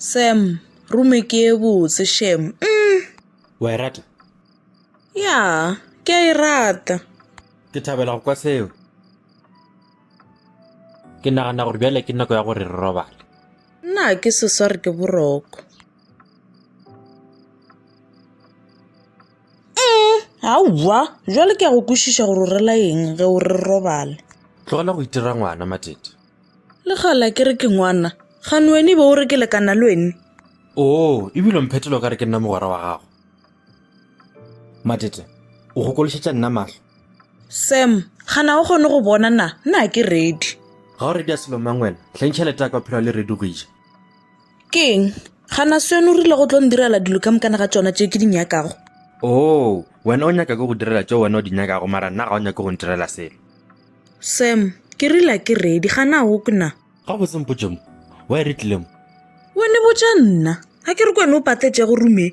Sam, rume ke e botse shem. Mm. Wa e rata? Ya, ke a e rata. Ke thabela go kwa seo. Ke nagana gore bjale ke nako ya gore re robale. Nna ke sesware ke boroko. aowa jwale ke ya go kwešiša gore o rela eng ge o re robale tlogela go itira ngwana matete le gala ke re ke ngwana gane wene be o re ke lekana le wene oo ebile o mphetelo ka re ke nna mogwera wa gago matete o gokološetša nna mahlo sam gana o kgone go bona na nna ke ready ga o ready a selomang wena hleng tšhelete ya ka o phela le ready go ija Ke eng? Gana se yone o rile go tlo ndirela dilo ka mokana ga tšona tše ke di nyakago. Oo, wena o nyaka ke go direla tše wena o di nyakago mara nna ga o nyake go ntirela selo. Sam, ke rile a ke ready, gana o kwe na? Ga botse mpotše mo, wa e re tlile mo? Wena botša nna, a ke re kwene o patletše go rume.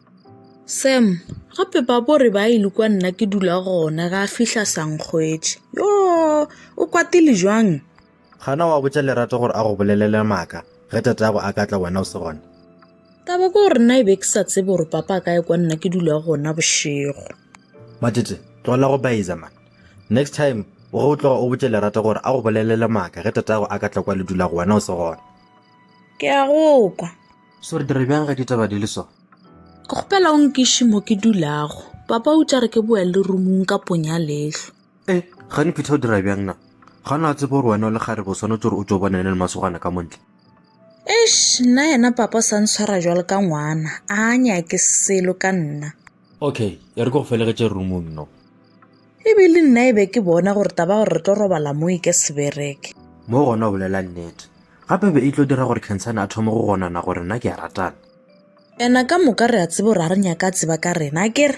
Sam, gape ba bo re ba ile kwa nna ke dula gona ga fihla sankgwetše yo o kwatile jwang gana wa botša lerato gore a go bolelele maaka ge tatago a ka tla wena o se gona taba ke gore nna e be ke sa tsebe gore papa a ka ye kwa nna ke dula gona bošego matete tlogela go baiza man next time ge o tloga o botše lerato gore a go bolelele maaka ge tatago a ka tla kwa le dula go wena o se gona ke a go kwa so re dire bjang ge ditaba di le so ke kgopela o nkiše mo ke dulago papa o tša re ke boya le rumong ka ponya lehlo e gane phitha o dira bjang na ga na tsebo gore wena o le gare bo swanetse gore o tso bona ene le masogana ka montle eish nna yena papa o sa ntshwara jwalo ka ngwana a nyake selo ka nna Okay, e re ke go felegetše roomong no. E be le nna e be ke bona gore taba gore re tlo robala mo e ke sebereke. Mo gona o bolela nnete. Gape be e tlo dira gore Khensane a thome go gonana gore nna ke a ratana. Ena ka moka re a tseba gore a re nyaka a tseba ka rena, a kere?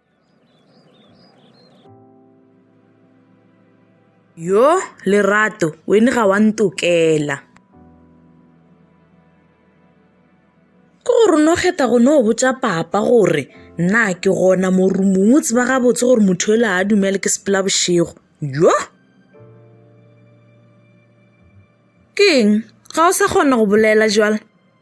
Yo, Lerato, wen ga wa ntokela. Ke gore no kgetha go no botša papa gore nna ke gona mo rumong o tseba gabotse gore motho ele a dumele ke sepela bošego. Yo! Ke eng? Ga o sa kgona go bolela jwale?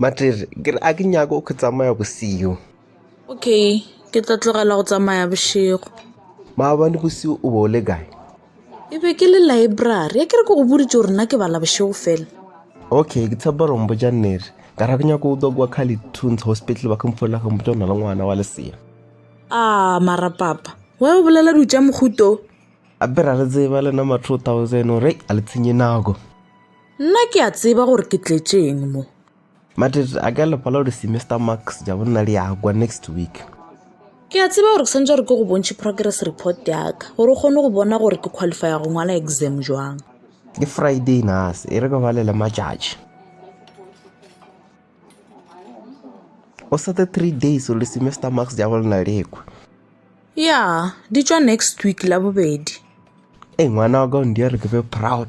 Matere, ke re a ke nyako go tsamaya bosigo. Okay, ke tla tlogela go tsamaya bošego. Maabane bosigo o be o le kae? E be ke le library, ya ke re ke go boditše gore nna ke bala bošego fela. Okay, ke tshepa gore mpotša nnete. Ka ra ke nyako o tswa kwa Carly Tunes Hospital ba kemfolela go mpotša ona le ngwana wa lesea. Ah, mara papa, wa e bolela di tša mohuto. Gape ra re tseba lena ma 2000 gore a le tshenye nako. nna ke a tseba gore ke tletšeng mo mate a ka lepala gore semester marks ja bonna le yakwa next week ke a tseba gore ke santse gore ke go bontšhe progress report yaka gore o kgone go bona gore ke qualify go ngwala exam jwang ke friday nas e re ka ba lele matšatši o sete three days gore semester marks ja bolena lekwa ya di tswa next week la bobedi e ngwana wa ka o ndia re ke be proud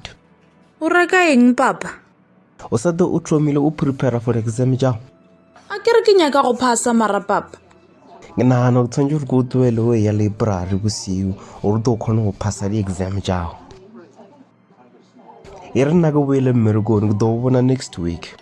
O reka eng papa? O sa tlo o thomile o prepare for exam jago? A ke re ke nyaka go phasa mara papa. Ke nagana o tshwanetse gore ke o tloele o ya library bosiu gore o tlo kgone go phasa di-exam jago. E re nna ke boele mmerekone ke tlo o bona next week.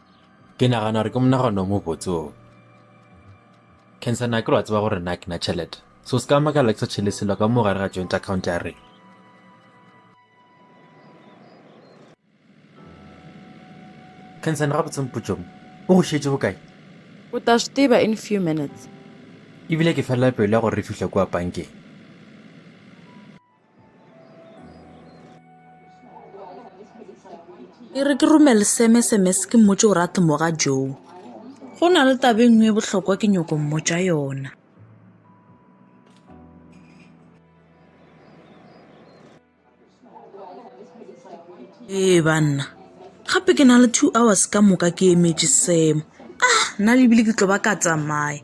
Ke nagana gore ke monagano o mo botse o. Cancer na ke lo a tseba gore na ke na tšhelete. So se ka makala ke sa tšhele selo ka mo gare ga joint account ya rena. Cancer na ga botse mpotso mo. O go šetše bokae? O ta swi tiva in few minutes. Ebile ke felela pelo ya gore re fihle kwa bankeng. e re ke romele seme semes ke mmotse gore a tlomoga joo go na le taba e nngwe e bohlokwa ke nyoko mmotsa yona ee banna gape ke na le two hours ka moka ke emetše semo ah nna lebile ke tlo ba ka tsamaya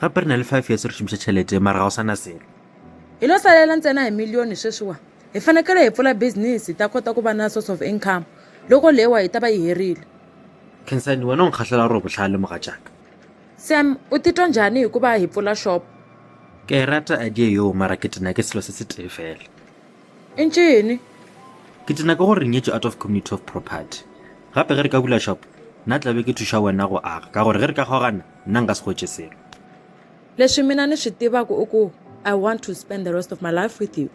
gape re na le five years re šomiša tšhelete mara ga o sana selo hi lo salela ntsena hi miliyoni sweswiwa hi fanekele hi pfula business hi ta kota ku va na source of income loko lewa yi ta va yi herile khensani wena u ni khahlela ro vutlhali mugatshaka sam u titwa njhani hi ku va hi pfula shop ke yi rata idea yoo mara ke tina ke selo se se tee fela i ncini ke tina ke gore re nyetše out of community of property gape ge re ka bula shop nna tlabe ke thuša wena go aga ka gore ge re ka kgogana Nna nka se hwetše selo. Leswi mina ni swi tivaku i ku, I want to spend the rest of my life with you.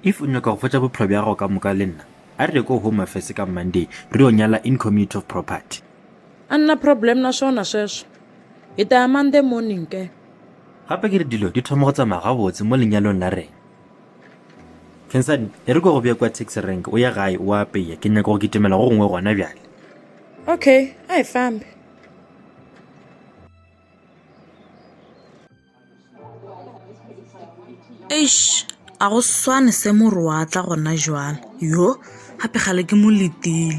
If u nyaka go fetša bophelo bja gago ka moka le nna, a re ye ko Home Affairs ka Monday re yo nyala in community of property. A ni na problem na swona sweswo. Hi ta ya Monday morning ke. Gape ke re dilo di thoma go tsamaya gabotse mo lenyalong la rena. Khensani, e re ke go bee kwa taxi rank o ye gae o a apeya, ke nyaka go kitimela go gongwe gona bjale. Okay, a hi fambe. eish a go swane se more wa tla gona jwale yo gape gale ke mo letile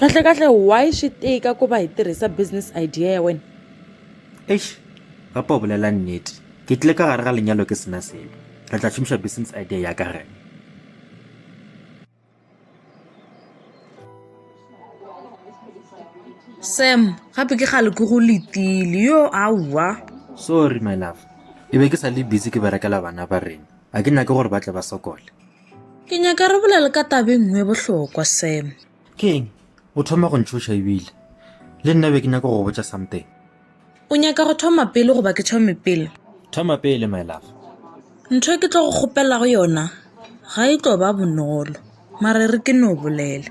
kahle kahle why swi tika ku va hi tirhisa business idea ya wena eish papa o bolela nnete ke tlile ka gare ga lenyalo ke sena selo re tla šomiša business idea ya ka rena sam gape ke gale ke go letile yo aowa sorry my love e be ke sa le busy ke berekela bana ba rena a ke nyake gore ba tle ba sokole ke nyaka re bolele ka tabe nngwe bohlokwa sam ke eng o thoma go ntšhoša ebile le nna be ke nyaka go botša something o nyaka go thoma pele goba ke thome pele thoma pele my love ntho e ke tlo go kgopelago yona ga e tlo ba bonolo mare re ke no bolele